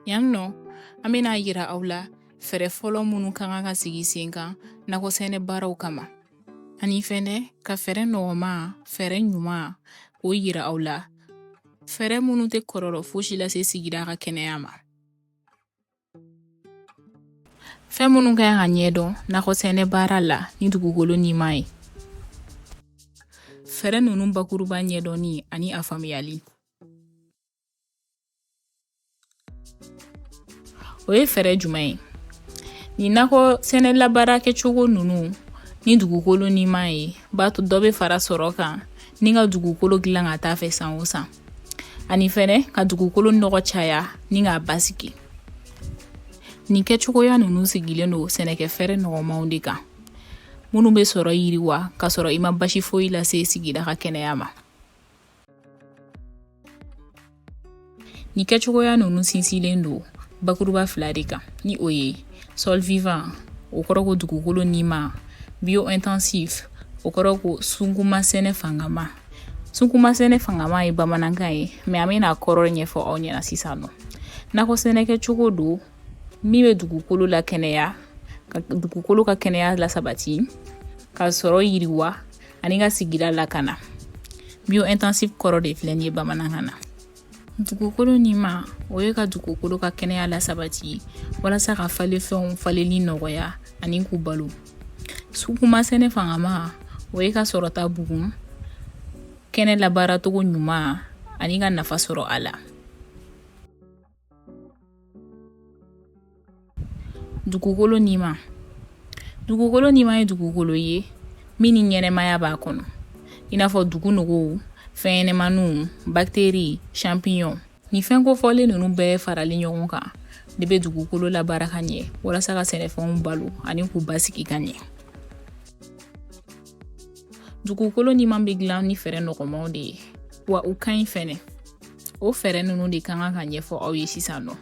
Yan nɔ an bɛna yira aw la fɛɛrɛ fɔlɔ minnu ka kan ka sigi sen kan nakɔsɛnɛ baaraw kama ani fɛnɛ ka fɛɛrɛ nɔgɔma fɛɛrɛ ɲuman k'o yira aw la fɛɛrɛ minnu tɛ kɔlɔlɔ fosi lase sigida ka kɛnɛya ma fɛn minnu ka kan ka ɲɛdɔn nakɔ sɛnɛ baara la ni dugukolo nima ye fɛɛrɛ ninnu bakuruba ɲɛdɔnni ani a faamuyali o ye fɛɛrɛ jumɛn ye nin nakɔ sɛnɛ labaara kɛcogo ninnu ni dugukolo nima ye b'a to dɔ bɛ fara sɔrɔ kan ni ka dugukolo dilan ka taa fɛ san o san ani fɛnɛ ka dugukolo nɔgɔ caya ni k'a basigi nin kɛcogoya ninnu sigilen don sɛnɛkɛfɛɛrɛ nɔgɔmaw de kan minnu bɛ sɔrɔ yiriwa ka sɔrɔ i ma basi foyi lase sigida ka kɛnɛya ma nin kɛcogoya ninnu sinsilen don bakuruba fila de kan ni o ye sol vivant o kɔrɔ ko dugukolo nima biointensif o kɔrɔ ko sunkunma sɛnɛ fangama sunkunma sɛnɛ fangama ye bamanankan ye mais an bɛna kɔrɔ ɲɛfɔ aw ɲɛna sisan nɔ nakɔ sɛnɛ kɛcogo don min bɛ dugukolo lakɛnɛya ka dugukolo ka kɛnɛya lasabati ka sɔrɔ yiriwa ani ka sigida lakana biointensif kɔrɔ de filɛ nin ye bamanankan na Dugukolo nima o ye ka dugukolo ka kɛnɛya lasabati walasa ka falenfɛnw falenli nɔgɔya ani k'u balo sunkunmasɛnɛ fangama o ye ka sɔrɔta bugun kɛnɛ labaaracogo ɲuman ani ka nafa sɔrɔ a la dugukolo nima dugukolo nima ye dugukolo ye min ni ɲɛnamaya b'a kɔnɔ i n'a fɔ dugu nɔgɔw fɛnɲɛnamaniw bactéries champignons nin fɛn kofɔlen ninnu bɛɛ farali ɲɔgɔn kan de bɛ dugukolo labaara ka ɲɛ walasa ka sɛnɛfɛnw balo ani k'u basigi ka ɲɛ dugukolo nima bɛ dilan ni fɛɛrɛ nɔgɔmaw de ye wa u ka ɲi fɛnɛ o fɛɛrɛ ninnu de ka kan ka ɲɛfɔ aw ye sisan nɔ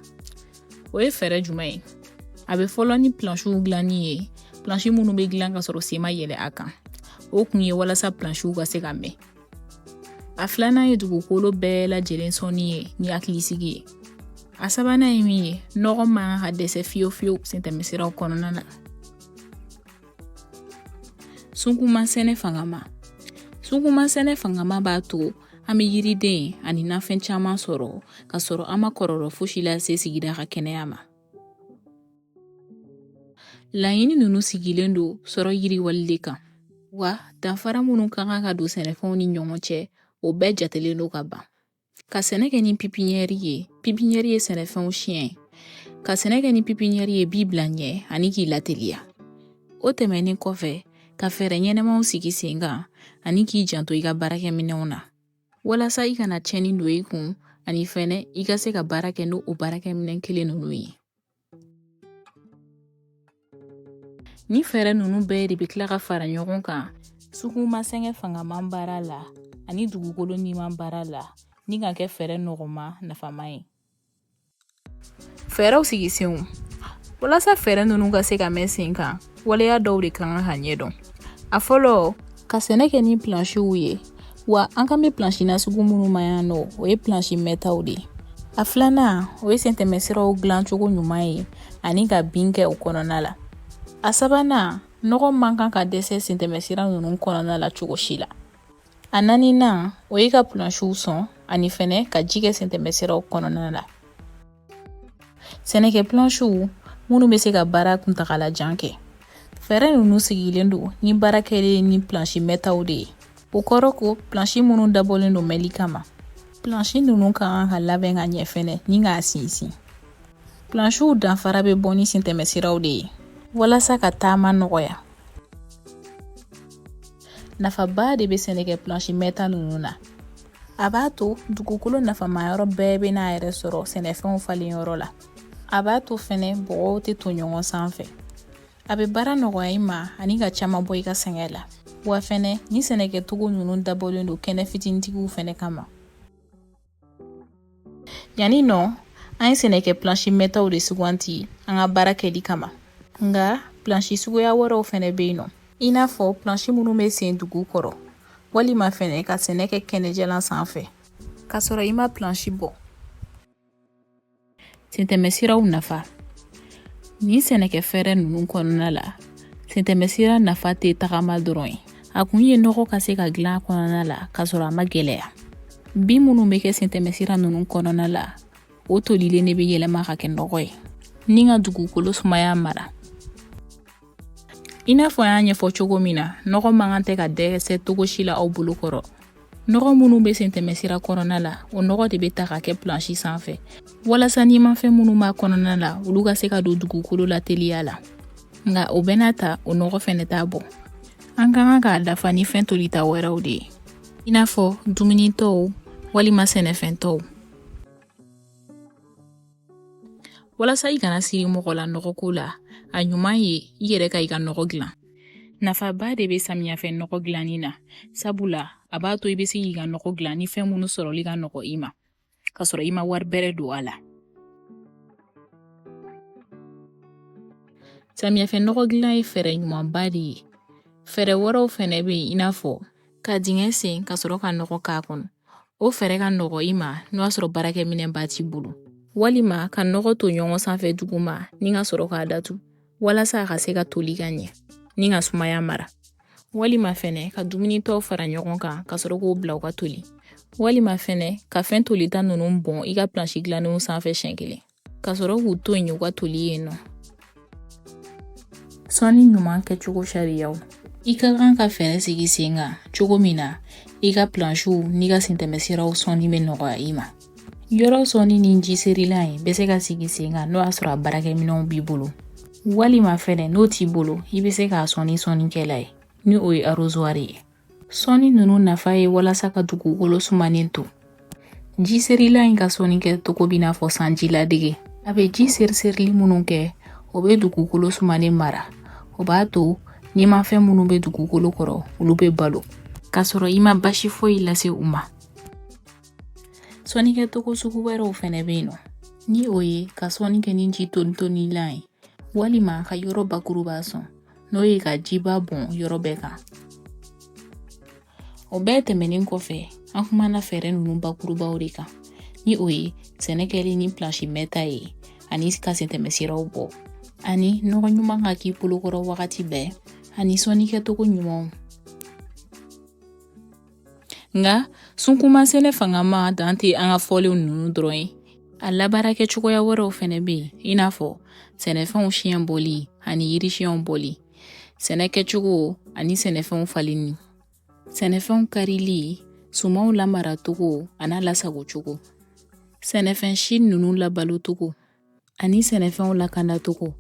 o ye fɛɛrɛ jumɛn ye a bɛ fɔlɔ ni plansiw dilanni ye plansi minnu bɛ dilan ka sɔrɔ sen ma yɛlɛ a kan o kun ye walasa plansiw ka se ka mɛn a filanan ye dugukolo bɛɛ lajɛlen sɔnni ye ni hakilisigi ye a sabanan ye min ye nɔgɔ man kan ka dɛsɛ fiyewu fiyewu sentɛmɛsiraw kɔnɔna na sunkunmasɛnɛ fangama sunkunmasɛnɛ fangama b'a to an bɛ yiriden ani nafɛn caman sɔrɔ ka sɔrɔ an ma kɔlɔlɔ fosi lase sigida ka kɛnɛya ma laɲini ninnu sigilen don sɔrɔ yiriwali de kan wa danfara minnu ka kan ka don sɛnɛfɛnw ni ɲɔgɔn cɛ o bɛɛ jatelen don ka ban ka sɛnɛ kɛ ni pipiɲɛri ye pipiɲɛri ye sɛnɛfɛnw siɲɛ ka sɛnɛ kɛ ni pipiɲɛri ye b'i bila ɲɛ ani k'i lateliya o tɛmɛnen kɔfɛ ka fɛɛrɛ ɲɛnɛmaw sigi sen kan ani k'i janto i ka baarakɛminɛnw na walasa i kana tiɲɛni don i kun ani fɛnɛ i ka se ka baara kɛ n'o baarakɛminɛn kelen ninnu ye ni fɛɛrɛ ninnu bɛɛ de bɛ tila ka fara ɲɔgɔn kan suguma sɛnɛ fangaman baara la ani dugukolo niman baara la ni ka kɛ fɛɛrɛ nɔgɔma nafama ye fɛɛrɛw sigisenw walasa fɛɛrɛ ninnu ka se ka mɛn sen kan waleya dɔw de kan ka ɲɛdɔn a fɔlɔ ka sɛnɛ kɛ ni plansiw ye wa an kan bɛ plansi nasugu minnu ma yan nɔ o ye plansi mɛtaw de ye a filanan o ye sentɛmɛsiraw dilancogo ɲuman ye ani ka bin kɛ o kɔnɔna la a sabanan nɔgɔ man kan ka dɛsɛ sentɛmɛsira ninnu kɔnɔna la cogo si la a naaninan o ye ka pulansiw sɔn ani fɛnɛ ka ji kɛ sentɛmɛsiraw kɔnɔna la sɛnɛkɛ pulansiw minnu bɛ se ka baara kuntagala jan kɛ fɛɛrɛ ninnu sigilen don ni baara kɛlen ni pulansi mɛtaw de ye o kɔrɔ ko pulansi minnu dabɔlen don mɛnli kama pulansi ninnu kan ka labɛn ka ɲɛ fɛnɛ ni k'a sinsin pulansiw danfara bɛ bɔ ni sentɛmɛsiraw de ye walasa ka taama nɔgɔya nafaba de bɛ sɛnɛkɛ plansi mɛta ninnu na a b'a to dugukolo nafama yɔrɔ bɛɛ bɛ n'a yɛrɛ sɔrɔ sɛnɛfɛnw falen yɔrɔ la a b'a to fɛnɛ bɔgɔw tɛ to ɲɔgɔn sanfɛ a bɛ baara nɔgɔya i ma ani ka caman bɔ i ka sɛgɛn la wa fɛnɛ ni sɛnɛkɛcogo ninnu dabɔlen don kɛnɛ fitinitigiw fɛnɛ kama yanni nɔ an ye sɛnɛkɛ plansi mɛtaw de suganti an ka baara kɛli kama nka plansi suguya wɛrɛw fɛnɛ bɛ yen nɔ i n'a fɔ plansi minnu bɛ sen dugu kɔrɔ walima fɛnɛ ka sɛnɛ kɛ kɛnɛjalan sanfɛ k'a sɔrɔ i ma plansi bɔ Sentɛmɛsiraw nafa nin sɛnɛkɛ fɛɛrɛ ninnu kɔnɔna la sentɛmɛsira nafa tɛ tagama dɔrɔn ye a kun ye nɔgɔ ka se ka dilan kɔnɔna la ka sɔrɔ a ma gɛlɛya bin minnu bɛ kɛ sentɛmɛsira ninnu kɔnɔna la o tolilen de bɛ yɛlɛma ka kɛ nɔgɔ ye ni ka dugukolo sumaya mara i n'a fɔ an y'a ɲɛfɔ cogo min na nɔgɔ man kan tɛ ka dɛsɛ cogo si la aw bolo kɔrɔ nɔgɔ minnu bɛ sentɛmɛsira kɔnɔna la o nɔgɔ de bɛ ta ka kɛ plansi sanfɛ walasa nimafɛn minnu b'a kɔnɔna la olu ka se ka don dugukolo la teliya la nka o bɛɛ n'a ta o nɔgɔ fɛnɛ t'a bɔ an ka kan k'a dafa ni fɛn tolita wɛrɛw de ye i n'a fɔ dumunitɔw walima sɛnɛfɛntɔw walasa i kana siri mɔgɔ la nɔgɔko la a ɲuman ye i yɛrɛ ka i ka nɔgɔ dilan nafaba de bɛ samiyafɛ nɔgɔ dilanni na sabula a b'a to i bɛ se k'i ka nɔgɔ dilan ni fɛn minnu sɔrɔli ka nɔgɔ i ma ka sɔrɔ i ma wari bɛrɛ don a la samiyafɛ nɔgɔ dilan ye fɛɛrɛ ɲumanba de ye fɛɛrɛ wɛrɛw fɛnɛ bɛ yen i n'a fɔ ka dingɛ sen ka sɔrɔ ka nɔgɔ k'a kɔnɔ o fɛɛrɛ ka nɔgɔ i ma n'o y'a sɔrɔ baarakɛminɛnba t'i bolo walima ka nɔgɔ ton ɲɔgɔn sanfɛ duguma ni ka sɔrɔ k'a datu walasa a ka se ka toli ka ɲɛ ni ka sumaya mara walima fɛnɛ ka dumunitɔw fara ɲɔgɔn kan ka sɔrɔ k'o bila u ka toli walima fɛnɛ ka fɛn tolita ninnu bɔn i ka plansi dilannenw sanfɛ siɲɛ kelen Ka sɔrɔ k'u to yen u ka toli yen nɔ sɔnni ɲuman kɛcogo sariyaw i ka kan ka fɛɛrɛ sigi sen kan cogo min na i ka plansiw n'i ka sentɛmɛsiraw sɔnni bɛ nɔgɔya i ma yɔrɔ sɔnni ni ji serilan ye bɛ se ka sigi sen kan n'o y'a sɔrɔ a baarakɛminɛnw b'i bolo walima fɛnɛ n'o t'i bolo i bɛ se k'a sɔn ni sɔnnikɛlan ye ni o ye arozwari ye Sɔnni ninnu nafa ye walasa ka dugukolo sumanen to ji serilan in ka sɔnni kɛcogo b'i n'a fɔ sanji ladege a bɛ ji seriserili minnu kɛ o bɛ dugukolo sumanen mara o b'a to nimafɛn minnu bɛ dugukolo kɔrɔ olu bɛ balo ka sɔrɔ i ma baasi foyi lase u ma sɔnnikɛcogo sugu wɛrɛw fɛnɛ bɛ yen nɔ ni o ye ka sɔnni kɛ ni ji tonitonilan ye walima ka yɔrɔ bakuruba sɔn n'o ye ka jiba bɔn yɔrɔ bɛɛ kan o bɛɛ tɛmɛnen kɔfɛ an kumana fɛɛrɛ ninnu bakurubaw de kan ni o ye sɛnɛ kɛli ni plansi mɛɛnta ye ani ka sentɛmɛsiraw bɔ ani nɔgɔ ɲuman ka k'i bolokɔrɔ wagati bɛɛ ani sɔnni kɛcogo ɲumanw nka sunkunma sɛnɛ fangama dan tɛ an ka fɔlenw ninnu dɔrɔn ye a labaara kɛ cogoya wɛrɛw fɛnɛ bɛ yen i n'a fɔ sɛnɛfɛnw siɲɛ bɔli ani yiri siɲɛw bɔli sɛnɛ kɛcogo ani sɛnɛfɛnw falenni sɛnɛfɛnw karili sumanw lamaracogo an'a lasagocogo sɛnɛfɛn si ninnu labalocogo ani sɛnɛfɛnw lakanacogo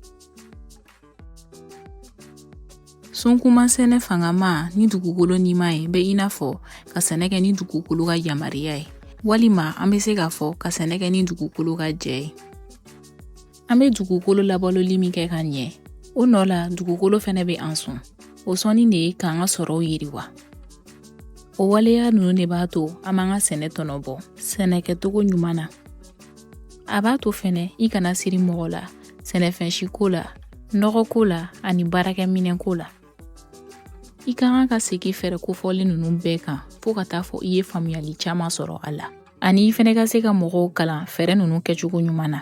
sunkuma sɛnɛ fangama ni dugukolo nima ye bɛ i n'a fɔ ka sɛnɛ kɛ ni dugukolo ka yamaruya ye walima an bɛ se k'a fɔ ka sɛnɛ kɛ ni dugukolo ka jɛ ye an bɛ dugukolo labaloli min kɛ ka ɲɛ o nɔ la dugukolo fɛnɛ bɛ an sɔn o sɔnni de ye k'an ka sɔrɔw yiriwa o waleya ninnu de b'a to an b'an ka sɛnɛ tɔnɔ bɔ sɛnɛkɛcogo ɲuman na a b'a to fɛnɛ i kana siri mɔgɔ la sɛnɛfɛn si ko la nɔgɔ ko la ani baarakɛminɛn ko la i ka kan ka segin fɛɛrɛ kofɔlen ninnu bɛɛ kan fɔɔ ka taa fɔ i ye faamuyali caaman sɔrɔ a la ani i fɛnɛ ka se ka mɔgɔw kalan fɛɛrɛ ninnu kɛcogo ɲuman na